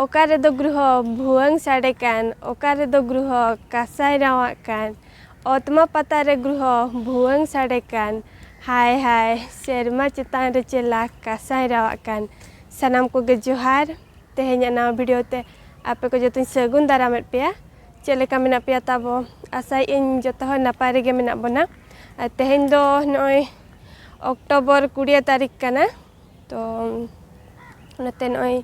ᱚᱠᱟ ᱨᱮᱫᱚ ᱜᱨᱩᱦᱚ ᱵᱷᱩᱣᱟᱹᱝ ᱥᱟᱰᱮ ᱠᱟᱱ ᱚᱠᱟ ᱨᱮᱫᱚ ᱜᱨᱩᱦᱚ ᱠᱟᱸᱥᱟᱭ ᱨᱟᱶᱟᱜ ᱠᱟᱱ ᱚᱛᱢᱟ ᱯᱟᱛᱟ ᱨᱮ ᱜᱨᱩᱦᱚ ᱵᱷᱩᱣᱟᱹᱝ ᱥᱟᱰᱮ ᱠᱟᱱ ᱦᱟᱭ ᱦᱟᱭ ᱥᱮᱨᱢᱟ ᱪᱮᱛᱟᱱ ᱨᱮ ᱪᱮᱞᱟ ᱠᱟᱸᱥᱟᱭ ᱨᱟᱶᱟᱜ ᱠᱟᱱ ᱥᱟᱱᱟᱢ ᱠᱚᱜᱮ ᱡᱚᱦᱟᱨ ᱛᱮᱦᱮᱧᱟᱜ ᱱᱟᱣᱟ ᱵᱷᱤᱰᱤᱭᱳ ᱛᱮ ᱟᱯᱮ ᱠᱚ ᱡᱚᱛᱚᱧ ᱥᱟᱹᱜᱩᱱ ᱫᱟᱨᱟᱢᱮᱫ ᱯᱮᱭᱟ ᱪᱮᱫ ᱞᱮᱠᱟ ᱢᱮᱱᱟᱜ ᱯᱮᱭᱟ ᱛᱟᱵᱚ ᱟᱥᱟᱭᱮᱫ ᱟᱹᱧ ᱡᱚᱛᱚ ᱦᱚᱲ ᱱᱟᱯᱟᱭ ᱨᱮᱜᱮ ᱢᱮᱱᱟᱜ ᱵᱚᱱᱟ ᱟᱨ ᱛᱮᱦᱮᱧ ᱫᱚ ᱱᱚᱜᱼᱚᱭ ᱚᱠᱴᱳᱵᱚᱨ ᱠᱩᱲᱤᱭᱟᱹ ᱛᱟᱹᱨᱤᱠᱷ ᱠᱟᱱᱟ ᱛᱚ ᱚᱱᱟᱛᱮ ᱱᱚᱜᱼᱚᱭ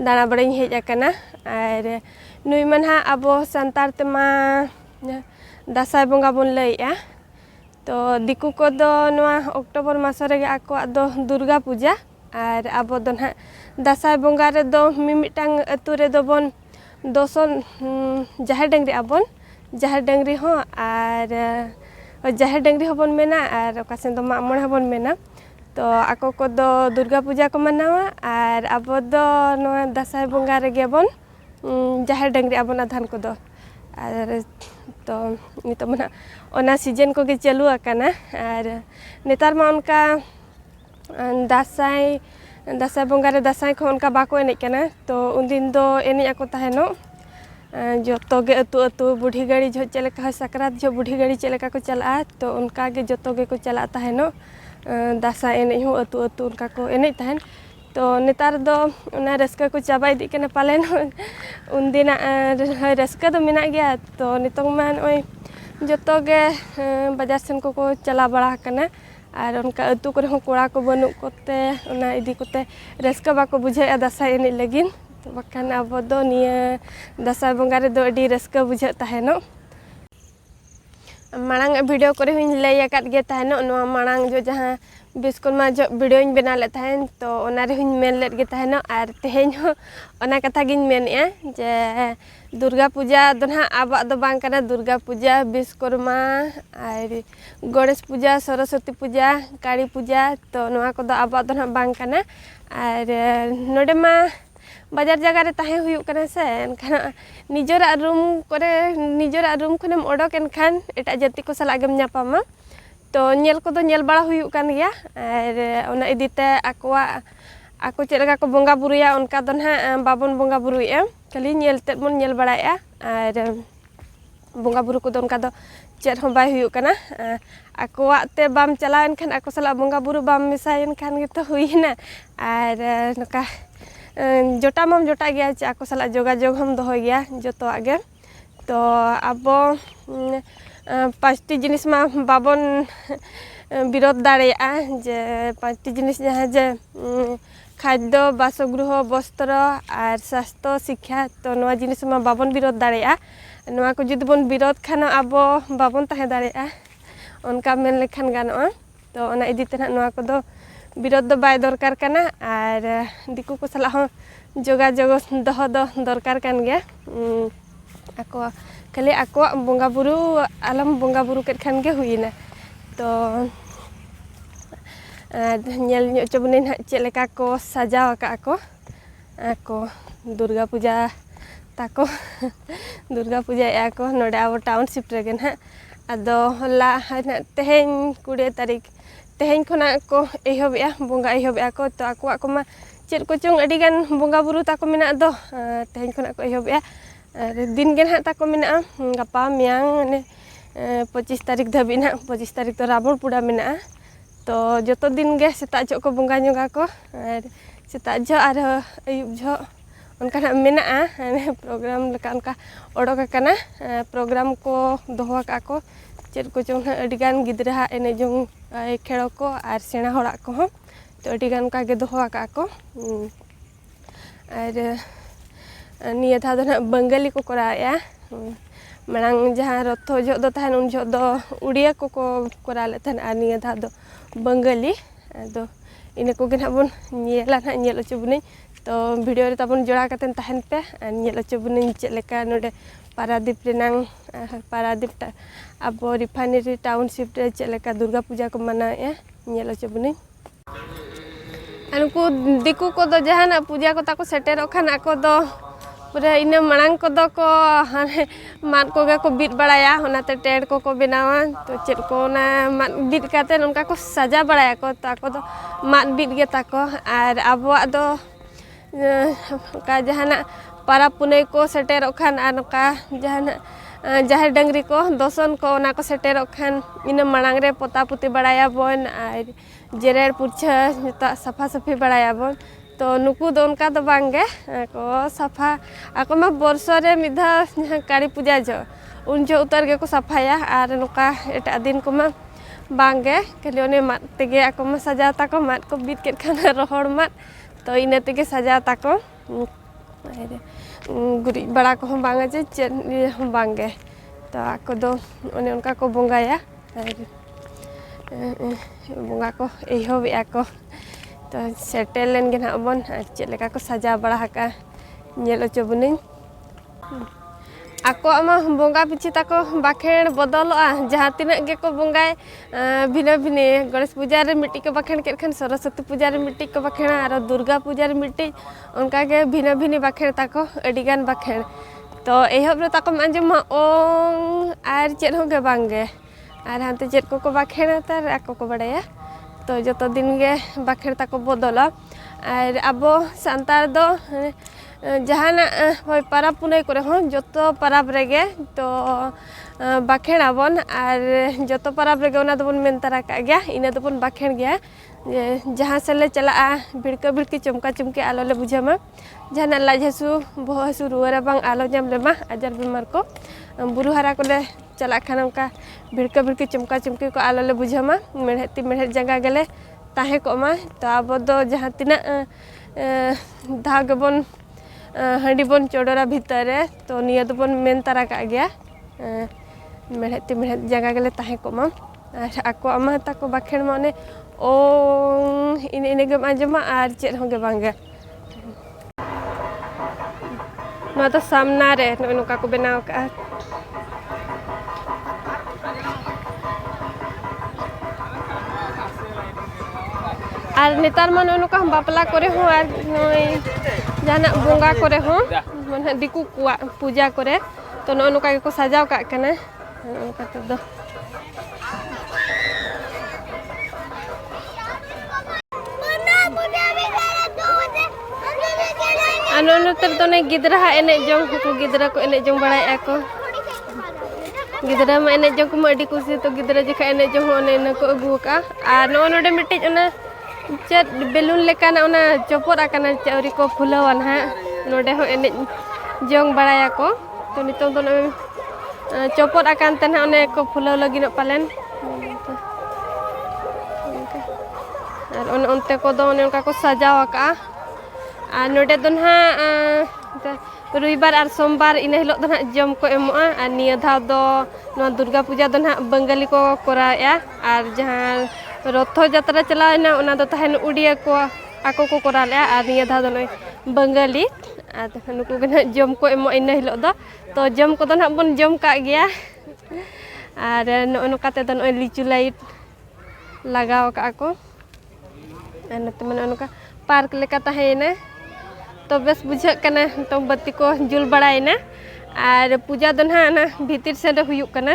ᱫᱟᱬᱟ ᱵᱟᱲᱟᱧ ᱦᱮᱡ ᱟᱠᱟᱱᱟ ᱟᱨ ᱱᱩᱭ ᱢᱟ ᱱᱟᱦᱟᱜ ᱟᱵᱚ ᱥᱟᱱᱛᱟᱲ ᱛᱮᱢᱟ ᱫᱟᱸᱥᱟᱭ ᱵᱚᱸᱜᱟ ᱵᱚᱱ ᱞᱟᱹᱭᱮᱜᱼᱟ ᱛᱚ ᱫᱤᱠᱩ ᱠᱚᱫᱚ ᱱᱚᱣᱟ ᱚᱠᱴᱳᱵᱚᱨ ᱢᱟᱥ ᱨᱮᱜᱮ ᱟᱠᱚᱣᱟᱜ ᱫᱚ ᱫᱩᱨᱜᱟ ᱯᱩᱡᱟ ᱟᱨ ᱟᱵᱚ ᱫᱚ ᱱᱟᱦᱟᱜ ᱫᱟᱸᱥᱟᱭ ᱵᱚᱸᱜᱟ ᱨᱮᱫᱚ ᱢᱤᱢᱤᱫᱴᱟᱝ ᱟᱹᱛᱩ ᱨᱮᱫᱚ ᱵᱚᱱ ᱫᱚᱥᱚᱱ ᱡᱟᱦᱮᱨ ᱰᱟᱹᱝᱨᱤ ᱟᱵᱚᱱ ᱡᱟᱦᱮᱨ ᱰᱟᱹᱝᱨᱤ ᱦᱚᱸ ᱟᱨ ᱡᱟᱦᱮᱨ ᱰᱟᱹᱝᱨᱤ ᱦᱚᱸᱵᱚᱱ ᱢᱮᱱᱟ ᱟᱨ ᱚᱠᱟ ᱥᱮᱱ ᱫᱚ ᱢᱟᱜ ᱢᱚᱬᱮ ᱦᱚᱸᱵᱚᱱ ᱢᱮᱱᱟ ᱛᱚ ᱟᱠᱚ ᱠᱚᱫᱚ ᱫᱩᱨᱜᱟ ᱯᱩᱡᱟ ᱠᱚ ᱢᱟᱱᱟᱣᱟ ᱟᱨ ᱟᱵᱚ ᱫᱚ ᱱᱚᱣᱟ ᱫᱟᱸᱥᱟᱭ ᱵᱚᱸᱜᱟ ᱨᱮᱜᱮ ᱵᱚᱱ ᱡᱟᱦᱮᱨ ᱰᱟᱹᱝᱨᱤᱜ ᱟᱵᱚᱱ ᱟᱫᱷᱟᱱ ᱠᱚᱫᱚ ᱟᱨ ᱛᱚ ᱱᱤᱛᱚᱜ ᱢᱟ ᱱᱟᱦᱟᱜ ᱚᱱᱟ ᱥᱤᱡᱮᱱ ᱠᱚᱜᱮ ᱪᱟᱹᱞᱩ ᱟᱠᱟᱱᱟ ᱟᱨ ᱱᱮᱛᱟᱨ ᱢᱟ ᱚᱱᱠᱟ ᱫᱟᱸᱥᱟᱭ ᱫᱟᱸᱥᱟᱭ ᱵᱚᱸᱜᱟ ᱨᱮ ᱫᱟᱸᱥᱟᱭ ᱠᱚᱦᱚᱸ ᱚᱱᱠᱟ ᱵᱟᱠᱚ ᱮᱱᱮᱡ ᱠᱟᱱᱟ ᱛᱚ ᱩᱱᱫᱤᱱ ᱫᱚ ᱮᱱᱮᱡ ᱟᱠᱚ ᱛᱟᱦᱮᱱᱚᱜ ᱡᱚᱛᱚ ᱜᱮ ᱟᱹᱛᱩ ᱟᱹᱛᱩ ᱵᱩᱰᱷᱤ ᱜᱟᱹᱲᱤ ᱡᱚᱦᱚᱜ ᱪᱮᱫ ᱞᱮᱠᱟ ᱥᱟᱠᱨᱟᱛ ᱡᱚᱦᱚᱜ ᱵᱩᱰᱷᱤ ᱜᱟᱹᱲᱤ ᱪᱮᱫ ᱞᱮᱠᱟ ᱠᱚ ᱪᱟᱞᱟᱜᱼᱟ ᱛᱚ ᱚᱱᱠᱟ ᱜᱮ ᱡᱚᱛᱚ ᱜᱮᱠᱚ ᱪᱟᱞᱟᱜ ᱛᱟᱦᱮᱱᱚᱜ ᱫᱟᱸᱥᱟᱭ ᱮᱱᱮᱡ ᱦᱚᱸ ᱟᱹᱛᱩ ᱟᱹᱛᱩ ᱚᱱᱠᱟ ᱠᱚ ᱮᱱᱮᱡ ᱛᱟᱦᱮᱱ ᱛᱚ ᱱᱮᱛᱟᱨ ᱫᱚ ᱚᱱᱟ ᱨᱟᱹᱥᱠᱟᱹ ᱠᱚ ᱪᱟᱵᱟ ᱤᱫᱤᱜ ᱠᱟᱱᱟ ᱯᱟᱞᱮᱱ ᱩᱱ ᱫᱤᱱᱟᱜ ᱦᱳᱭ ᱨᱟᱹᱥᱠᱟᱹ ᱫᱚ ᱢᱮᱱᱟᱜ ᱜᱮᱭᱟ ᱛᱚ ᱱᱤᱛᱚᱝ ᱢᱟ ᱱᱚᱜᱼᱚᱭ ᱡᱚᱛᱚ ᱜᱮ ᱵᱟᱡᱟᱨ ᱥᱮᱱ ᱠᱚᱠᱚ ᱪᱟᱞᱟᱣ ᱵᱟᱲᱟ ᱟᱠᱟᱱᱟ ᱟᱨ ᱚᱱᱠᱟ ᱟᱹᱛᱩ ᱠᱚᱨᱮ ᱦᱚᱸ ᱠᱚᱲᱟ ᱠᱚ ᱵᱟᱹᱱᱩᱜ ᱠᱚᱛᱮ ᱚᱱᱟ ᱤᱫᱤ ᱠᱚᱛᱮ ᱨᱟᱹᱥᱠᱟᱹ ᱵᱟᱠᱚ ᱵᱩᱡᱷᱟᱹᱣᱮᱜᱼᱟ ᱫᱟᱸᱥᱟᱭ ᱮᱱᱮᱡ ᱞᱟᱹᱜᱤᱫ ᱵᱟᱠᱷᱟᱱ ᱟᱵᱚ ᱫᱚ ᱱᱤᱭᱟᱹ ᱫᱟᱸᱥᱟᱭ ᱵᱚᱸᱜᱟ ᱨᱮᱫᱚ ᱟᱹᱰᱤ ᱨᱟᱹᱥᱠᱟᱹ ᱵᱩᱡᱷᱟᱹᱜ ᱛᱟᱦᱮᱱᱚᱜ ᱢᱟᱲᱟᱝ ᱟᱜ ᱵᱷᱤᱰᱤᱭᱳ ᱠᱚᱨᱮ ᱦᱚᱧ ᱞᱟᱹᱭ ᱟᱠᱟᱫ ᱜᱮ ᱛᱟᱦᱮᱱᱚᱜ ᱱᱚᱣᱟ ᱢᱟᱲᱟᱝ ᱡᱚᱜ ᱡᱟᱦᱟᱸ ᱵᱤᱥᱠᱚᱨᱢᱟ ᱡᱚᱜ ᱵᱷᱤᱰᱤᱭᱳᱧ ᱵᱮᱱᱟᱣ ᱞᱮᱫ ᱛᱟᱦᱮᱱ ᱛᱚ ᱚᱱᱟ ᱨᱮᱦᱚᱧ ᱢᱮᱱ ᱞᱮᱫ ᱜᱮ ᱛᱟᱦᱮᱱᱚᱜ ᱟᱨ ᱛᱮᱦᱮᱧ ᱦᱚᱸ ᱚᱱᱟ ᱠᱟᱛᱷᱟ ᱜᱤᱧ ᱢᱮᱱᱮᱜᱼᱟ ᱡᱮ ᱫᱩᱨᱜᱟ ᱯᱩᱡᱟ ᱫᱚ ᱱᱟᱦᱟᱜ ᱟᱵᱚᱣᱟᱜ ᱫᱚ ᱵᱟᱝ ᱠᱟᱱᱟ ᱫᱩᱨᱜᱟ ᱯᱩᱡᱟ ᱵᱤᱥᱠᱚᱨᱢᱟ ᱟᱨ ᱜᱚᱱᱮᱥ ᱯᱩᱡᱟ ᱥᱚᱨᱚᱥᱚᱛᱤ ᱯᱩᱡᱟ ᱠᱟᱹᱞᱤ ᱯᱩᱡᱟ ᱛᱚ ᱱᱚᱣᱟ ᱠᱚᱫᱚ ᱟᱵᱚᱣᱟᱜ ᱫᱚ ᱱᱟᱦᱟᱜ ᱵᱟᱝ ᱠᱟᱱᱟ ᱟᱨ ᱱᱚᱰᱮ ᱢᱟ ᱵᱟᱡᱟᱨ ᱡᱟᱭᱜᱟ ᱨᱮ ᱛᱟᱦᱮᱸ ᱦᱩᱭᱩᱜ ᱠᱟᱱᱟ ᱥᱮ ᱮᱱᱠᱷᱟᱱ ᱱᱤᱡᱮᱨᱟᱜ ᱨᱩᱢ ᱠᱚᱨᱮ ᱱᱤᱡᱮᱨᱟᱜ ᱨᱩᱢ ᱠᱷᱚᱱᱮᱢ ᱚᱰᱚᱠ ᱮᱱ ᱠᱷᱟᱱ ᱮᱴᱟᱜ ᱡᱟᱹᱛᱤ ᱠᱚ ᱥᱟᱞᱟᱜ ᱜᱮᱢ ᱧᱟᱯᱟᱢᱟ ᱛᱚ ᱧᱮᱞ ᱠᱚᱫᱚ ᱧᱮᱞ ᱵᱟᱲᱟ ᱦᱩᱭᱩᱜ ᱠᱟᱱ ᱜᱮᱭᱟ ᱟᱨ ᱚᱱᱟ ᱤᱫᱤ ᱛᱮ ᱟᱠᱚᱣᱟᱜ ᱟᱠᱚ ᱪᱮᱫ ᱞᱮᱠᱟ ᱠᱚ ᱵᱚᱸᱜᱟᱼᱵᱳᱨᱳᱭᱟ ᱚᱱᱠᱟ ᱫᱚ ᱦᱟᱸᱜ ᱵᱟᱵᱚᱱ ᱵᱚᱸᱜᱟᱼᱵᱳᱨᱳᱭᱮᱜᱼᱟ ᱠᱷᱟᱹᱞᱤ ᱧᱮᱞ ᱛᱮᱫ ᱵᱚᱱ ᱧᱮᱞ ᱵᱟᱲᱟᱭᱮᱜᱼᱟ ᱟᱨ ᱵᱚᱸᱜᱟ ᱵᱳᱨᱳ ᱠᱚᱫᱚ ᱚᱱᱠᱟ ᱫᱚ ᱪᱮᱫ ᱦᱚᱸ ᱵᱟᱭ ᱦᱩᱭᱩᱜ ᱠᱟᱱᱟ ᱟᱠᱚᱣᱟᱜ ᱛᱮ ᱵᱟᱢ ᱪᱟᱞᱟᱣ ᱮᱱ ᱠᱷᱟᱱ ᱟᱠᱚ ᱥᱟᱞᱟᱜ ᱵᱚᱸᱜᱟ ᱵᱳᱨᱳ ᱵᱟᱢ ᱢᱮᱥᱟᱭᱮᱱ ᱠᱷᱟᱱ ᱜᱮᱛᱚ ᱦᱩᱭᱮᱱᱟ ᱟᱨ ᱱᱚᱝᱠᱟ ᱡᱚᱴᱟᱣ ᱢᱟᱢ ᱡᱚᱴᱟᱜ ᱜᱮᱭᱟ ᱪᱮ ᱟᱠᱚ ᱥᱟᱞᱟᱜ ᱡᱳᱜᱟᱡᱳᱜᱽ ᱦᱚᱢ ᱫᱚᱦᱚᱭ ᱜᱮᱭᱟ ᱡᱚᱛᱚᱣᱟᱜ ᱜᱮ ᱛᱚ ᱟᱵᱚ ᱯᱟᱸᱪᱴᱤ ᱡᱤᱱᱤᱥ ᱢᱟ ᱵᱟᱵᱚᱱ ᱵᱤᱨᱳᱫᱷ ᱫᱟᱲᱮᱭᱟᱜᱼᱟ ᱡᱮ ᱯᱟᱸᱪᱴᱤ ᱡᱤᱱᱤᱥ ᱡᱟᱦᱟᱸ ᱡᱮ ᱠᱷᱟᱫᱽᱭᱚ, ᱵᱟᱥᱚᱜᱨᱚᱦᱚ, ᱵᱚᱥᱛᱨᱚ ᱟᱨ ᱥᱟᱥᱛᱷᱚ, ᱥᱤᱠᱠᱷᱟ ᱛᱚ ᱱᱚᱣᱟ ᱡᱤᱱᱤᱥ ᱢᱟ ᱵᱟᱵᱚᱱ ᱵᱤᱨᱚᱫᱷ ᱫᱟᱲᱮᱭᱟᱜᱼᱟ᱾ ᱱᱚᱣᱟ ᱠᱚ ᱡᱩᱫᱤ ᱵᱚᱱ ᱵᱤᱨᱚᱫᱷ ᱠᱷᱟᱱ ᱟᱵᱚ ᱵᱟᱵᱚᱱ ᱛᱟᱦᱮᱸ ᱫᱟᱲᱮᱭᱟᱜᱼᱟ᱾ ᱚᱱᱠᱟ ᱢᱮᱱ ᱞᱮᱠᱷᱟᱱ ᱜᱟᱱᱚᱜᱼᱟ᱾ ᱛᱚ ᱚᱱᱟ ᱤᱫᱤ ᱛᱮ ᱱᱟᱦᱟᱜ ᱱᱚᱣᱟ ᱠᱚᱫᱚ ᱵᱤᱨᱚᱫᱷ ᱫᱚ ᱵᱟᱭ ᱫᱚᱨᱠᱟᱨ ᱠᱟᱱᱟ ᱟᱨ ᱫᱤᱠᱩ ᱠᱚ ᱥᱟᱞᱟᱜ ᱦᱚᱸ ᱡᱳᱜᱟᱡᱳᱜᱽ ᱫᱚᱦᱚ ᱫᱚ ᱫᱚᱨᱠᱟᱨ ᱠᱟᱱ ᱜᱮᱭᱟ᱾ ᱟᱠᱚᱣᱟᱜ ᱠᱷᱟᱹᱞᱤ ᱟᱠᱚᱣᱟᱜ ᱵᱚᱸᱜᱟ ᱵᱳᱨᱳ ᱟᱞᱚᱢ ᱵᱚᱸᱜᱟ ᱵᱳᱨᱳ ᱠᱮᱫ ᱠᱷᱟᱱ ᱜᱮ ᱦᱩᱭᱮᱱᱟ ᱛᱚ ᱧᱮᱞ ᱧᱚᱜ ᱦᱚᱪᱚ ᱵᱚᱱᱟᱹᱧ ᱱᱟᱦᱟᱜ ᱪᱮᱫ ᱞᱮᱠᱟ ᱠᱚ ᱥᱟᱡᱟᱣ ᱟᱠᱟᱫ ᱟᱠᱚ ᱟᱠᱚ ᱫᱩᱨᱜᱟ ᱯᱩᱡᱟ ᱛᱟᱠᱚ ᱫᱩᱨᱜᱟ ᱯᱩᱡᱟᱹ ᱮᱫᱟ ᱠᱚ ᱱᱚᱰᱮ ᱟᱵᱚ ᱴᱟᱣᱩᱱᱥᱤᱯ ᱨᱮᱜᱮ ᱱᱟᱦᱟᱜ ᱟᱫᱚ ᱦᱚᱞᱟ ᱱᱟᱦᱟᱜ ᱛᱮᱦᱮᱧ ᱠᱩᱲᱤ ᱛᱟᱹᱨᱤᱠᱷ ᱛᱮᱦᱮᱧ ᱠᱷᱚᱱᱟᱜ ᱠᱚ ᱮᱦᱚᱵᱮᱜᱼᱟ ᱵᱚᱸᱜᱟ ᱮᱦᱚᱵᱮᱜᱼᱟ ᱠᱚ ᱛᱚ ᱟᱠᱚᱣᱟᱜ ᱠᱚᱢᱟ ᱪᱮᱫ ᱠᱚᱪᱚᱝ ᱟᱹᱰᱤ ᱜᱟᱱ ᱵᱚᱸᱜᱟ ᱵᱩᱨᱩ ᱛᱟᱠᱚ ᱢᱮᱱᱟᱜ ᱫᱚ ᱛᱮᱦᱮᱧ ᱠᱷᱚᱱᱟᱜ ᱠᱚ ᱮᱦᱚᱵᱮᱜᱼᱟ ᱟᱨ ᱫᱤᱱ ᱜᱮ ᱱᱟᱦᱟᱜ ᱛᱟᱠᱚ ᱢᱮᱱᱟᱜᱼᱟ ᱜᱟᱯᱟ ᱢᱮᱭᱟᱝ ᱢᱟᱱᱮ ᱯᱚᱸᱪᱤᱥ ᱛᱟᱹᱨᱤᱠᱷ ᱫᱷᱟᱹᱵᱤᱡ ᱱᱟᱦᱟᱜ ᱯᱚᱸᱪᱤᱥ ᱛᱟᱹᱨᱤᱠᱷ ᱫᱚ ᱨᱟᱵᱚᱲ ᱯᱚᱲᱟ ᱢᱮᱱᱟᱜᱼᱟ ᱛᱚ ᱡᱚᱛᱚ ᱫᱤᱱ ᱜᱮ ᱥᱮᱛᱟᱜ ᱡᱚᱦᱚᱜ ᱠᱚ ᱵᱚᱸᱜᱟ ᱧᱚᱜᱟ ᱠᱚ ᱟᱨ ᱥᱮᱛᱟᱜ ᱡᱚᱦᱚᱜ ᱟᱨᱦᱚᱸ ᱟᱹᱭᱩᱵ ᱡᱚᱦᱚᱜ ᱚᱱᱠᱟ ᱱᱟᱦᱟᱜ ᱢᱮᱱᱟᱜᱼᱟ ᱦᱟᱱᱮ ᱯᱨᱳᱜᱨᱟᱢ ᱞᱮᱠᱟ ᱚᱱᱠᱟ ᱚᱰᱚᱠ ᱟᱠᱟᱱᱟ ᱯᱨᱳᱜᱨᱟᱢ ᱠᱚ ᱫᱚᱦᱚ ᱠᱟᱜᱼᱟ ᱠᱚ ᱪᱮᱫ ᱠᱚᱪᱚᱝ ᱦᱟᱸᱜ ᱟᱹᱰᱤ ᱜᱟᱱ ᱜᱤᱫᱽᱨᱟᱹ ᱦᱟᱸᱜ ᱮᱱᱮᱡ ᱡᱚᱝ ᱠᱷᱮᱲᱚ ᱠᱚ ᱟᱨ ᱥᱮᱬᱟ ᱦᱚᱲᱟᱜ ᱠᱚᱦᱚᱸ ᱛᱚ ᱟᱹᱰᱤ ᱜᱟᱱ ᱚᱱᱠᱟ ᱜᱮ ᱫᱚᱦᱚ ᱟᱠᱟᱫ ᱟᱠᱚ ᱟᱨ ᱱᱤᱭᱟᱹ ᱫᱷᱟᱣ ᱫᱚ ᱱᱟᱜ ᱵᱟᱝᱜᱟᱞᱤ ᱠᱚ ᱠᱚᱨᱟᱣᱮᱜᱼᱟ ᱢᱟᱲᱟᱝ ᱡᱟᱦᱟᱸ ᱨᱚᱛᱷᱚ ᱡᱚᱦᱚᱜ ᱫᱚ ᱛᱟᱦᱮᱱ ᱩᱱ ᱡᱚᱦᱚᱜ ᱫᱚ ᱩᱲᱤᱭᱟ ᱠᱚᱠᱚ ᱠᱚᱨᱟᱣ ᱞᱮᱫ ᱛᱟᱦᱮᱱ ᱟᱨ ᱱᱤᱭᱟᱹ ᱫᱷᱟᱣ ᱫᱚ ᱵᱟᱝᱜᱟᱞᱤ ᱟᱫᱚ ᱤᱱᱟᱹ ᱠᱚᱜᱮ ᱱᱟᱜ ᱵᱚᱱ ᱧᱮᱞᱟ ᱱᱟᱜ ᱧᱮᱞ ᱦᱚᱪᱚ ᱵᱚᱱᱟᱹᱧ ᱛᱚ ᱵᱷᱤᱰᱭᱳ ᱨᱮ ᱛᱟᱵᱚᱱ ᱡᱚᱲᱟᱣ ᱠᱟᱛᱮ ᱛᱟᱦᱮᱱ ᱯᱮ ᱟᱨ ᱧᱮᱞ ᱦᱚᱪᱚ ᱵᱚᱱᱟᱹᱧ ᱪᱮᱫ ᱞᱮᱠᱟ ᱱᱚᱰᱮ ᱯᱟᱨᱟᱫᱤᱯ ᱨᱮᱱᱟᱝ ᱯᱟᱨᱟᱫᱤᱯ ᱟᱵᱚ ᱨᱤᱯᱷᱟᱭᱱᱟᱨᱤ ᱴᱟᱣᱩᱱᱥᱤᱯ ᱨᱮ ᱪᱮᱫ ᱞᱮᱠᱟ ᱫᱩᱨᱜᱟ ᱯᱩᱡᱟ ᱠᱚ ᱢᱟᱱᱟᱣᱮᱜᱼᱟ ᱧᱮᱞ ᱦᱚᱪᱚ ᱵᱤᱱᱟᱹᱧ ᱟᱨ ᱩᱱᱠᱩ ᱫᱤᱠᱩ ᱠᱚᱫᱚ ᱡᱟᱦᱟᱱᱟᱜ ᱯᱩᱡᱟ ᱠᱚ ᱛᱟᱠᱚ ᱥᱮᱴᱮᱨᱚᱜ ᱠᱷᱟᱱ ᱟᱠᱚ ᱫᱚ ᱯᱩᱨᱟᱹ ᱤᱱᱟᱹ ᱢᱟᱲᱟᱝ ᱠᱚᱫᱚ ᱠᱚ ᱦᱟᱱᱮ ᱢᱟᱫ ᱠᱚᱜᱮ ᱠᱚ ᱵᱤᱫ ᱵᱟᱲᱟᱭᱟ ᱚᱱᱟᱛᱮ ᱴᱮᱸᱰ ᱠᱚᱠᱚ ᱵᱮᱱᱟᱣᱟ ᱛᱚ ᱪᱮᱫ ᱠᱚ ᱚᱱᱟ ᱢᱟᱫ ᱵᱤᱫ ᱠᱟᱛᱮ ᱚᱱᱠᱟ ᱠᱚ ᱥᱟᱡᱟᱣ ᱵᱟᱲᱟᱭᱟᱠᱚ ᱛᱚ ᱟᱠᱚ ᱫᱚ ᱢᱟᱫ ᱵᱤᱫ ᱜᱮᱛᱟ ᱠᱚ ᱟᱨ ᱟᱵᱚᱣᱟᱜ ᱫᱚ ᱚᱱᱠᱟ ᱡᱟᱦᱟᱱᱟᱜ ᱯᱟᱨᱟᱵᱽ ᱯᱩᱱᱟᱹᱭ ᱠᱚ ᱥᱮᱴᱮᱨᱚᱜ ᱠᱷᱟᱱ ᱟᱨ ᱱᱚᱝᱠᱟ ᱡᱟᱦᱟᱱᱟᱜ ᱡᱟᱦᱮᱨ ᱰᱟᱹᱝᱨᱤ ᱠᱚ ᱫᱚᱥᱚᱱ ᱠᱚ ᱚᱱᱟ ᱠᱚ ᱥᱮᱴᱮᱨᱚᱜ ᱠᱷᱟᱱ ᱤᱱᱟᱹ ᱢᱟᱲᱟᱝ ᱨᱮ ᱯᱚᱛᱟ ᱯᱚᱛᱤ ᱵᱟᱲᱟᱭᱟᱵᱚᱱ ᱟᱨ ᱡᱮᱨᱮᱲ ᱯᱚᱨᱪᱷᱟᱹ ᱡᱚᱛᱚᱣᱟᱜ ᱥᱟᱯᱷᱟ ᱥᱟᱹᱯᱷᱤ ᱵᱟᱲᱟᱭᱟᱵᱚᱱ ᱛᱚ ᱱᱩᱠᱩ ᱫᱚ ᱚᱱᱠᱟ ᱫᱚ ᱵᱟᱝ ᱜᱮ ᱠᱚ ᱥᱟᱯᱷᱟ ᱟᱠᱚ ᱢᱟ ᱵᱚᱨᱥᱚ ᱨᱮ ᱢᱤᱫ ᱫᱷᱟᱣ ᱡᱟᱦᱟᱸ ᱠᱟᱹᱞᱤ ᱯᱩᱡᱟᱹ ᱡᱚᱦᱚᱜ ᱩᱱ ᱡᱚᱦᱚᱜ ᱩᱛᱟᱹᱨ ᱜᱮᱠᱚ ᱥᱟᱯᱷᱟᱭᱟ ᱟᱨ ᱱᱚᱝᱠᱟ ᱮᱴᱟᱜ ᱫᱤᱱ ᱠᱚᱢᱟ ᱵᱟᱝ ᱜᱮ ᱠᱷᱟᱹᱞᱤ ᱚᱱᱮ ᱢᱟᱫ ᱛᱮᱜᱮ ᱟᱠᱚ ᱢᱟ ᱥᱟᱡᱟᱣ ᱛᱟᱠᱚ ᱢᱟᱫ ᱠᱚ ᱵᱤᱫ ᱠᱮᱫ ᱠᱷᱟᱱ ᱨᱚᱦᱚᱲ ᱢᱟᱫ ᱛᱚ ᱤᱱᱟᱹ ᱛᱮᱜᱮ ᱥᱟᱡᱟᱣ ᱛᱟᱠᱚ ᱜᱩᱨᱤᱡ ᱵᱟᱲᱟ ᱠᱚᱦᱚᱸ ᱵᱟᱝᱟ ᱡᱮ ᱪᱮᱫ ᱤᱭᱟᱹ ᱦᱚᱸ ᱵᱟᱝᱜᱮ ᱛᱚ ᱟᱠᱚ ᱫᱚ ᱚᱱᱮ ᱚᱱᱠᱟ ᱠᱚ ᱵᱚᱸᱜᱟᱭᱟ ᱟᱨ ᱵᱚᱸᱜᱟ ᱠᱚ ᱮᱦᱚᱵᱮᱜᱼᱟ ᱠᱚ ᱛᱚ ᱥᱮᱴᱮᱨ ᱞᱮᱱᱜᱮ ᱱᱟᱦᱟᱸᱜ ᱵᱚᱱ ᱟᱨ ᱪᱮᱫ ᱞᱮᱠᱟ ᱠᱚ ᱥᱟᱡᱟᱣ ᱵᱟᱲᱟ ᱟᱠᱟᱜᱼᱟ ᱧᱮᱞ ᱦᱚᱪᱚ ᱵᱚᱱᱟᱹᱧ ᱟᱠᱚᱣᱟᱜ ᱢᱟ ᱵᱚᱸᱜᱟ ᱯᱤᱪᱷᱤ ᱛᱟᱠᱚ ᱵᱟᱠᱷᱮᱲ ᱵᱚᱫᱚᱞᱚᱜᱼᱟ ᱡᱟᱦᱟᱸ ᱛᱤᱱᱟᱹᱜ ᱜᱮᱠᱚ ᱵᱚᱸᱜᱟᱭ ᱵᱷᱤᱱᱟᱹ ᱵᱷᱤᱱᱟᱹ ᱜᱚᱬᱮᱥ ᱯᱩᱡᱟ ᱨᱮ ᱢᱤᱫᱴᱤᱡ ᱠᱚ ᱵᱟᱠᱷᱮᱲ ᱠᱮᱫ ᱠᱷᱟᱱ ᱥᱚᱨᱚᱥᱚᱛᱤ ᱯᱩᱡᱟ ᱨᱮ ᱢᱤᱫᱴᱤᱡ ᱠᱚ ᱵᱟᱠᱷᱮᱲᱟ ᱟᱨᱚ ᱫᱩᱨᱜᱟ ᱯᱩᱡᱟ ᱨᱮ ᱢᱤᱫᱴᱤᱡ ᱚᱱᱠᱟ ᱜᱮ ᱵᱷᱤᱱᱟᱹ ᱵᱷᱤᱱᱟᱹ ᱵᱟᱠᱷᱮᱲ ᱛᱟᱠᱚ ᱟᱹᱰᱤ ᱜᱟᱱ ᱵᱟᱠᱷᱮᱲ ᱛᱚ ᱮᱦᱚᱵ ᱨᱮ ᱛᱟᱠᱚᱢ ᱟᱸᱡᱚᱢᱟ ᱚᱝ ᱟᱨ ᱪᱮᱫ ᱦᱚᱸ ᱜᱮ ᱵᱟᱝ ᱜᱮ ᱟᱨ ᱦᱟᱱᱛᱮ ᱪᱮᱫ ᱠᱚᱠᱚ ᱵᱟᱠᱷᱮᱲᱟ ᱛᱟᱨ ᱟᱠᱚ ᱠᱚ ᱵᱟᱲᱟᱭᱟ ᱛᱚ ᱡᱚᱛᱚ ᱫᱤᱱ ᱜᱮ ᱵᱟᱠᱷᱮᱲ ᱛᱟᱠᱚ ᱵᱚᱫᱚᱞᱟ ᱟᱨ ᱟᱵᱚ ᱥᱟᱱᱛᱟᱲ ᱫᱚ ᱡᱟᱦᱟᱱᱟᱜ ᱦᱳᱭ ᱯᱟᱨᱟᱵᱽ ᱯᱩᱱᱟᱹᱭ ᱠᱚᱨᱮ ᱦᱚᱸ ᱡᱚᱛᱚ ᱯᱟᱨᱟᱵᱽ ᱨᱮᱜᱮ ᱛᱚ ᱵᱟᱠᱷᱮᱲ ᱟᱵᱚᱱ ᱟᱨ ᱡᱚᱛᱚ ᱯᱟᱨᱟᱵᱽ ᱨᱮᱜᱮ ᱚᱱᱟ ᱫᱚᱵᱚᱱ ᱢᱮᱱ ᱛᱟᱨᱟ ᱠᱟᱜ ᱜᱮᱭᱟ ᱤᱱᱟᱹ ᱫᱚᱵᱚᱱ ᱵᱟᱠᱷᱮᱲ ᱜᱮᱭᱟ ᱡᱮ ᱡᱟᱦᱟᱸ ᱥᱮᱫ ᱞᱮ ᱪᱟᱞᱟᱜᱼᱟ ᱵᱷᱤᱲᱠᱟᱹ ᱵᱷᱤᱲᱠᱤ ᱪᱚᱢᱠᱟ ᱪᱚᱢᱠᱤ ᱟᱞᱚ ᱞᱮ ᱵᱩᱡᱷᱟᱹᱣ ᱢᱟ ᱡᱟᱦᱟᱱᱟᱜ ᱞᱟᱡ ᱦᱟᱹᱥᱩ ᱵᱚᱦᱚᱜ ᱦᱟᱹᱥᱩ ᱨᱩᱣᱟᱹ ᱨᱟᱵᱟᱝ ᱟᱞᱚ ᱧᱟᱢ ᱞᱮᱢᱟ ᱟᱡᱟᱨ ᱵᱤᱢᱟᱨ ᱠᱚ ᱵᱩᱨᱩ ᱦᱟᱨᱟ ᱠᱚᱞᱮ ᱪᱟᱞᱟᱜ ᱠᱷᱟᱱ ᱚᱱᱠᱟ ᱵᱷᱤᱲᱠᱟᱹ ᱵᱷᱤᱲᱠᱟᱹ ᱪᱚᱢᱠᱟ ᱪᱚᱢᱠᱤ ᱠᱚ ᱟᱞᱚ ᱞᱮ ᱵᱩᱡᱷᱟᱹᱣ ᱢᱟ ᱢᱮᱬᱦᱮᱫ ᱛᱤ ᱢᱮᱬᱦᱮᱫ ᱡᱟᱸᱜᱟ ᱜᱮᱞᱮ ᱛᱟᱦᱮᱸ ᱠᱚᱜ ᱢᱟ ᱛᱚ ᱟᱵᱚ ᱫᱚ ᱡᱟᱦᱟᱸ ᱛᱤᱱᱟᱹᱜ ᱫᱷᱟᱣ ᱜᱮᱵᱚᱱ ᱦᱟᱺᱰᱤ ᱵᱚᱱ ᱪᱚᱰᱚᱨᱟ ᱵᱷᱤᱛᱟᱹᱨ ᱨᱮ ᱛᱚ ᱱᱤᱭᱟᱹ ᱫᱚᱵᱚᱱ ᱢᱮᱱ ᱛᱟᱨᱟ ᱠᱟᱜ ᱜᱮᱭᱟ ᱢᱮᱬᱦᱮᱫ ᱛᱤ ᱢᱮᱬᱦᱮᱫ ᱡᱟᱸᱜᱟ ᱜᱮᱞᱮ ᱛᱟᱦᱮᱸ ᱠᱚᱜ ᱢᱟ ᱟᱨ ᱟᱠᱚᱣᱟᱜ ᱢᱟ ᱛᱟᱠᱚ ᱵᱟᱠᱷᱮᱲ ᱢᱟ ᱚᱱᱮ ᱳᱝ ᱤᱱᱟᱹ ᱤᱱᱟᱹ ᱜᱮᱢ ᱟᱸᱡᱚᱢᱟ ᱟᱨ ᱪᱮᱫ ᱦᱚᱸᱜᱮ ᱵᱟᱝᱜᱮ ᱱᱚᱣᱟ ᱫᱚ ᱥᱟᱢᱱᱟ ᱨᱮ ᱱᱚᱜᱼᱚᱭ ᱱᱚᱝᱠᱟ ᱠᱚ ᱵᱮᱱᱟᱣ ᱠᱟᱜᱼᱟ ᱟᱨ ᱱᱮᱛᱟᱨ ᱢᱟ ᱱᱚᱜᱼᱚᱭ ᱱᱚᱝᱠᱟ ᱵᱟᱯᱞᱟ ᱠᱚᱨᱮ ᱦᱚᱸ ᱟᱨ ᱱᱚᱜᱼᱚᱭ ᱡᱟᱦᱟᱱᱟᱜ ᱵᱚᱸᱜᱟ ᱠᱚᱨᱮ ᱦᱚᱸ ᱢᱟᱱᱮ ᱫᱤᱠᱩ ᱠᱚᱣᱟᱜ ᱯᱩᱡᱟ ᱠᱚᱨᱮ ᱛᱚ ᱱᱚᱜᱼᱚᱭ ᱱᱚᱝᱠᱟ ᱜᱮᱠᱚ ᱥᱟᱡᱟᱣ ᱠᱟᱜ ᱠᱟᱱᱟ ᱟᱞᱚ ᱱᱚᱛᱮ ᱫᱚ ᱚᱱᱮ ᱜᱤᱫᱽᱨᱟᱹ ᱦᱟᱜ ᱮᱱᱮᱡ ᱡᱚᱝ ᱠᱚ ᱜᱤᱫᱽᱨᱟᱹ ᱠᱚ ᱮᱱᱮᱡ ᱡᱚᱝ ᱵᱟᱲᱟᱭᱮᱫᱼᱟ ᱠᱚ ᱜᱤᱫᱽᱨᱟᱹ ᱢᱟ ᱮᱱᱮᱡ ᱡᱚᱝ ᱠᱚᱢᱟ ᱟᱹᱰᱤ ᱠᱩᱥᱤ ᱛᱚ ᱜᱤᱫᱽᱨᱟᱹ ᱡᱚᱠᱷᱟᱡ ᱮᱱᱮᱡ ᱡᱚᱝ ᱦᱚᱸ ᱚᱱᱮ ᱤᱱᱟᱹ ᱠᱚ ᱟᱹᱜᱩ ᱟᱠᱟᱫᱼᱟ ᱟᱨ ᱱᱚᱜᱼᱚ ᱱᱚᱰᱮ ᱢᱤᱫᱴᱮᱡ ᱚᱱᱟ ᱪᱮᱫ ᱵᱮᱞᱩᱱ ᱞᱮᱠᱟᱱᱟᱜ ᱚᱱᱟ ᱪᱚᱯᱚᱫ ᱟᱠᱟᱱᱟ ᱪᱮᱫ ᱟᱹᱣᱨᱤ ᱠᱚ ᱯᱷᱩᱞᱟᱹᱣᱟ ᱱᱟᱦᱟᱜ ᱱᱚᱰᱮ ᱦᱚᱸ ᱮᱱᱮᱡ ᱡᱚᱝ ᱵᱟᱲᱟᱭᱟᱠᱚ ᱛᱚ ᱱᱤᱛᱚᱝ ᱫᱚ ᱱᱚᱜᱼᱚᱭ ᱪᱚᱯᱚᱫ ᱟᱠᱟᱱ ᱛᱮ ᱱᱟᱦᱟᱜ ᱚᱱᱮ ᱠᱚ ᱯᱷᱩᱞᱟᱹᱣ ᱞᱟᱹᱜᱤᱫᱚᱜ ᱯᱟᱞᱮᱱ ᱟᱨ ᱚᱱᱮ ᱚᱱᱛᱮ ᱠᱚᱫᱚ ᱚᱱᱮ ᱚᱱᱠᱟ ᱠᱚ ᱥᱟᱡᱟᱣ ᱟᱠᱟᱜᱼᱟ ᱟᱨ ᱱᱚᱰᱮ ᱫᱚ ᱱᱟᱦᱟᱜ ᱨᱚᱵᱤᱵᱟᱨ ᱟᱨ ᱥᱳᱢᱵᱟᱨ ᱤᱱᱟᱹ ᱦᱤᱞᱳᱜ ᱫᱚ ᱱᱟᱦᱟᱜ ᱡᱚᱢ ᱠᱚ ᱮᱢᱚᱜᱼᱟ ᱟᱨ ᱱᱤᱭᱟᱹ ᱫᱷᱟᱣ ᱫᱚ ᱱᱚᱣᱟ ᱫᱩᱨᱜᱟ ᱯᱩᱡᱟ ᱫᱚ ᱱᱟᱦᱟᱜ ᱵᱟᱝᱜᱟᱞᱤ ᱠᱚ ᱠᱚᱨᱟᱣᱮᱫᱼᱟ ᱟᱨ ᱡᱟᱦᱟᱸ ᱨᱚᱛᱷᱚ ᱡᱟᱛᱨᱟ ᱪᱟᱞᱟᱣᱮᱱᱟ ᱚᱱᱟ ᱫᱚ ᱛᱟᱦᱮᱱ ᱩᱰᱤᱭᱟᱹ ᱠᱚ ᱟᱠᱚ ᱠᱚ ᱠᱚᱨᱟᱣ ᱞᱮᱫᱼᱟ ᱟᱨ ᱱᱤᱭᱟᱹ ᱫᱷᱟᱣ ᱫᱚ ᱱᱚᱜᱼᱚᱭ ᱵᱟᱝᱜᱟᱞᱤ ᱟᱨ ᱛᱚᱠᱷᱚᱱ ᱱᱩᱠᱩ ᱜᱮ ᱱᱟᱦᱟᱜ ᱡᱚᱢ ᱠᱚ ᱮᱢᱚᱜᱼᱟ ᱤᱱᱟᱹ ᱦᱤᱞᱳᱜ ᱫᱚ ᱛᱚ ᱡᱚᱢ ᱠᱚᱫᱚ ᱱᱟᱦᱟᱜ ᱵᱚᱱ ᱡᱚᱢ ᱠᱟᱜ ᱜᱮᱭᱟ ᱟᱨ ᱱᱚᱜᱼᱚ ᱱᱚᱝᱠᱟ ᱛᱮᱫᱚ ᱱᱚᱜᱼᱚᱭ ᱞᱤᱪᱩ ᱞᱟᱭᱤᱴ ᱞᱟᱜᱟᱣ ᱠᱟᱜᱼᱟ ᱠᱚ ᱟᱨ ᱱᱚᱛᱮ ᱢᱟ ᱱᱚᱜᱼᱚ ᱱᱚᱝᱠᱟ ᱯᱟᱨᱠ ᱞᱮᱠᱟ ᱛᱟᱦᱮᱸᱭᱮᱱᱟ ᱛᱚ ᱵᱮᱥ ᱵᱩᱡᱷᱟᱹᱜ ᱠᱟᱱᱟ ᱱᱤᱛᱚᱝ ᱵᱟᱹᱛᱤ ᱠᱚ ᱡᱩᱞ ᱵᱟᱲᱟᱭᱮᱱᱟ ᱟᱨ ᱯᱩᱡᱟ ᱫᱚ ᱱᱟᱦᱟᱜ ᱚᱱᱟ ᱵᱷᱤᱛᱤᱨ ᱥᱮᱱ ᱨᱮ ᱦᱩᱭᱩᱜ ᱠᱟᱱᱟ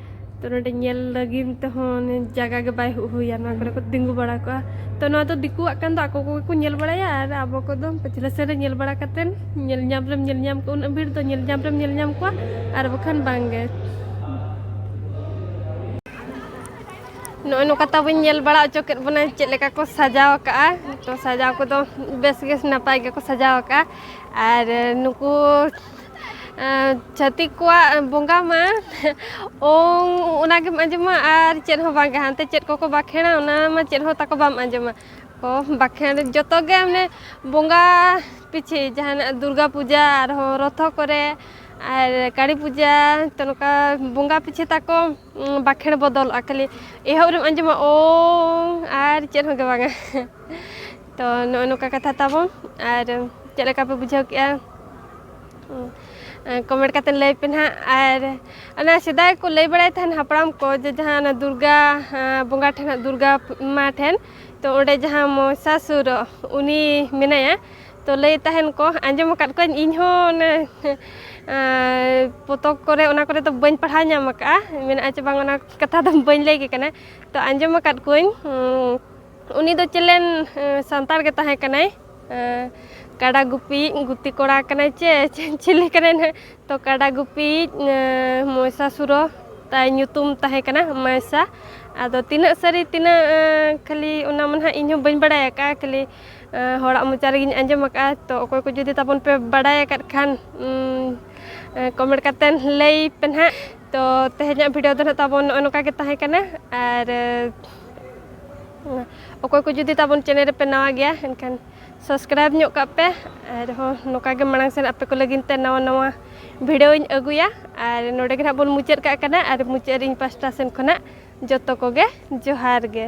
ᱛᱚ ᱱᱚᱰᱮ ᱧᱮᱞ ᱞᱟᱹᱜᱤᱫ ᱛᱮᱦᱚᱸ ᱡᱟᱭᱜᱟ ᱜᱮ ᱵᱟᱭ ᱦᱩᱭᱟ ᱱᱚᱣᱟ ᱠᱚᱨᱮ ᱠᱚ ᱛᱤᱸᱜᱩ ᱵᱟᱲᱟ ᱠᱚᱜᱼᱟ ᱛᱚ ᱱᱚᱣᱟ ᱫᱚ ᱫᱤᱠᱩᱣᱟᱜ ᱠᱟᱱ ᱫᱚ ᱟᱠᱚ ᱠᱚᱜᱮ ᱠᱚ ᱧᱮᱞ ᱵᱟᱲᱟᱭᱟ ᱟᱨ ᱟᱵᱚ ᱠᱚᱫᱚ ᱯᱟᱪᱷᱞᱟ ᱥᱮᱱ ᱨᱮ ᱧᱮᱞ ᱵᱟᱲᱟ ᱠᱟᱛᱮᱱ ᱧᱮᱞ ᱧᱟᱢ ᱨᱮᱢ ᱧᱮᱞ ᱧᱟᱢ ᱠᱚᱣᱟ ᱩᱱᱟᱹᱜ ᱵᱷᱤᱲ ᱫᱚ ᱧᱮᱞ ᱧᱟᱢ ᱨᱮᱢ ᱧᱮᱞ ᱧᱟᱢ ᱠᱚᱣᱟ ᱟᱨ ᱵᱟᱠᱷᱟᱱ ᱵᱟᱝᱜᱮ ᱱᱚᱜᱼᱚᱭ ᱱᱚᱝᱠᱟ ᱛᱟᱵᱚᱱ ᱧᱮᱞ ᱵᱟᱲᱟ ᱚᱪᱚ ᱠᱮᱫ ᱵᱚᱱᱟ ᱪᱮᱫ ᱞᱮᱠᱟ ᱠᱚ ᱥᱟᱡᱟᱣ ᱟᱠᱟᱜᱼᱟ ᱛᱚ ᱥᱟᱡᱟᱣ ᱠᱚᱫᱚ ᱵᱮᱥ ᱜᱮ ᱱᱟᱯᱟᱭ ᱜᱮᱠᱚ ᱥᱟᱡᱟᱣ ᱟᱠᱟᱜᱼᱟ ᱟᱨ ᱱᱩᱠᱩ ᱪᱷᱟᱹᱛᱤᱠ ᱠᱚᱣᱟᱜ ᱵᱚᱸᱜᱟ ᱢᱟ ᱳᱝ ᱚᱱᱟ ᱜᱮᱢ ᱟᱸᱡᱚᱢᱟ ᱟᱨ ᱪᱮᱫ ᱦᱚᱸ ᱵᱟᱝᱜᱮ ᱦᱟᱱᱛᱮ ᱪᱮᱫ ᱠᱚᱠᱚ ᱵᱟᱸᱠᱷᱮᱲᱟ ᱚᱱᱟ ᱢᱟ ᱪᱮᱫ ᱦᱚᱸ ᱛᱟᱠᱚ ᱵᱟᱢ ᱟᱸᱡᱚᱢᱟ ᱠᱚ ᱵᱟᱸᱠᱷᱮᱲ ᱡᱚᱛᱚ ᱜᱮ ᱢᱟᱱᱮ ᱵᱚᱸᱜᱟ ᱯᱤᱪᱷᱤ ᱡᱟᱦᱟᱱᱟᱜ ᱫᱩᱨᱜᱟ ᱯᱩᱡᱟ ᱟᱨᱦᱚᱸ ᱨᱚᱛᱷᱚ ᱠᱚᱨᱮ ᱟᱨ ᱠᱟᱹᱞᱤ ᱯᱩᱡᱟ ᱛᱚ ᱱᱚᱝᱠᱟ ᱵᱚᱸᱜᱟ ᱯᱤᱪᱷᱤ ᱛᱟᱠᱚ ᱵᱟᱸᱠᱷᱮᱲ ᱵᱚᱫᱚᱞᱚᱜᱼᱟ ᱠᱷᱟᱹᱞᱤ ᱮᱦᱚᱵ ᱨᱮᱢ ᱟᱸᱡᱚᱢᱟ ᱳᱝ ᱟᱨ ᱪᱮᱫ ᱦᱚᱸᱜᱮ ᱵᱟᱝᱟ ᱛᱚ ᱱᱚᱜᱼᱚ ᱱᱚᱝᱠᱟ ᱠᱟᱛᱷᱟ ᱛᱟᱵᱚᱱ ᱟᱨ ᱪᱮᱫ ᱞᱮᱠᱟ ᱯᱮ ᱵᱩᱡᱷᱟᱹᱣ ᱠᱮᱜᱼᱟ ᱠᱚᱢᱮᱱᱴ ᱠᱟᱛᱮ ᱞᱟᱹᱭ ᱯᱮ ᱱᱟᱦᱟᱜ ᱟᱨ ᱚᱱᱟ ᱥᱮᱫᱟᱭ ᱠᱚ ᱞᱟᱹᱭ ᱵᱟᱲᱟᱭ ᱛᱟᱦᱮᱱ ᱦᱟᱯᱲᱟᱢ ᱠᱚ ᱡᱮ ᱡᱟᱦᱟᱸ ᱚᱱᱟ ᱫᱩᱨᱜᱟ ᱵᱚᱸᱜᱟ ᱴᱷᱮᱱ ᱦᱟᱸᱜ ᱫᱩᱨᱜᱟ ᱢᱟ ᱴᱷᱮᱱ ᱛᱚ ᱚᱸᱰᱮ ᱡᱟᱦᱟᱸ ᱢᱚᱦᱤᱥᱟᱥᱩᱨ ᱩᱱᱤ ᱢᱮᱱᱟᱭᱟ ᱛᱚ ᱞᱟᱹᱭ ᱛᱟᱦᱮᱱ ᱠᱚ ᱟᱸᱡᱚᱢ ᱟᱠᱟᱫ ᱠᱚᱣᱟᱧ ᱤᱧ ᱦᱚᱸ ᱚᱱᱮ ᱯᱚᱛᱚᱵ ᱠᱚᱨᱮ ᱚᱱᱟ ᱠᱚᱨᱮ ᱫᱚ ᱵᱟᱹᱧ ᱯᱟᱲᱦᱟᱣ ᱧᱟᱢ ᱟᱠᱟᱫᱼᱟ ᱢᱮᱱᱟᱜᱼᱟ ᱪᱮ ᱵᱟᱝ ᱚᱱᱟ ᱠᱟᱛᱷᱟ ᱫᱚ ᱵᱟᱹᱧ ᱞᱟᱹᱭ ᱠᱮ ᱠᱟᱱᱟ ᱛᱚ ᱟᱸᱡᱚᱢ ᱟᱠᱟᱫ ᱠᱚᱣᱟᱧ ᱩᱱᱤ ᱫᱚ ᱪᱮᱞᱮᱱ ᱥᱟᱱᱛᱟᱲ ᱜᱮ ᱛᱟᱦᱮᱸ ᱠᱟᱱᱟᱭ ᱠᱟᱰᱟ ᱜᱩᱯᱤ ᱜᱩᱛᱤ ᱠᱚᱲᱟ ᱠᱟᱱᱟᱭ ᱪᱮ ᱪᱤᱞᱤ ᱠᱟᱱᱟᱭ ᱱᱟᱦᱟᱜ ᱛᱚ ᱠᱟᱰᱟ ᱜᱩᱯᱤ ᱢᱚᱭᱥᱟ ᱥᱩᱨᱚ ᱛᱟᱭ ᱧᱩᱛᱩᱢ ᱛᱟᱦᱮᱸ ᱠᱟᱱᱟ ᱢᱚᱭᱥᱟ ᱟᱫᱚ ᱛᱤᱱᱟᱹᱜ ᱥᱟᱹᱨᱤ ᱛᱤᱱᱟᱹᱜ ᱠᱷᱟᱹᱞᱤ ᱚᱱᱟ ᱢᱟ ᱱᱟᱦᱟᱜ ᱤᱧ ᱦᱚᱸ ᱵᱟᱹᱧ ᱵᱟᱲᱟᱭ ᱟᱠᱟᱫᱼᱟ ᱠᱷᱟᱹᱞᱤ ᱦᱚᱲᱟᱜ ᱢᱚᱪᱟ ᱨᱮᱜᱮᱧ ᱟᱸᱡᱚᱢ ᱟᱠᱟᱫᱼᱟ ᱛᱚ ᱚᱠᱚᱭ ᱠᱚ ᱡᱩᱫᱤ ᱛᱟᱵᱚᱱ ᱯᱮ ᱵᱟᱲᱟᱭ ᱟᱠᱟᱫ ᱠᱷᱟᱱ ᱠᱚᱢᱮᱱᱴ ᱠᱟᱛᱮ ᱞᱟᱹᱭ ᱯᱮ ᱱᱟᱦᱟᱜ ᱛᱚ ᱛᱮᱦᱮᱧᱟᱜ ᱵᱷᱤᱰᱤᱭᱳ ᱫᱚ ᱱᱟᱦᱟᱜ ᱛᱟᱵᱚᱱ ᱱᱚᱜᱼᱚᱸᱭ ᱱᱚᱝᱠᱟ ᱜᱮ ᱛᱟᱦᱮᱸ ᱠᱟᱱᱟ ᱟᱨ ᱚᱠᱚᱭ ᱠᱚ ᱡᱩᱫᱤ ᱛᱟᱵᱚᱱ ᱪᱮᱱᱮᱞ ᱨᱮᱯᱮ ᱱᱟᱣᱟ ᱜᱮᱭᱟ ᱮᱱᱠᱷᱟᱱ ᱥᱟᱵᱥᱠᱨᱟᱭᱤᱵᱽ ᱧᱚᱜ ᱠᱟᱜ ᱯᱮ ᱟᱨᱦᱚᱸ ᱱᱚᱝᱠᱟ ᱜᱮ ᱢᱟᱲᱟᱝ ᱥᱮᱫ ᱟᱯᱮ ᱠᱚ ᱞᱟᱹᱜᱤᱫ ᱛᱮ ᱱᱟᱣᱟ ᱱᱟᱣᱟ ᱵᱷᱤᱰᱭᱳᱧ ᱟᱹᱜᱩᱭᱟ ᱟᱨ ᱱᱚᱰᱮ ᱜᱮ ᱦᱟᱸᱜ ᱵᱚᱱ ᱢᱩᱪᱟᱹᱫ ᱠᱟᱜ ᱠᱟᱱᱟ ᱟᱨ ᱢᱩᱪᱟᱹᱫ ᱨᱮ ᱤᱧ ᱯᱟᱥᱴᱟ ᱥᱮᱱ ᱠᱷᱚᱱᱟᱜ ᱡᱚᱛᱚ ᱠᱚᱜᱮ ᱡᱚᱦᱟᱨ ᱜᱮ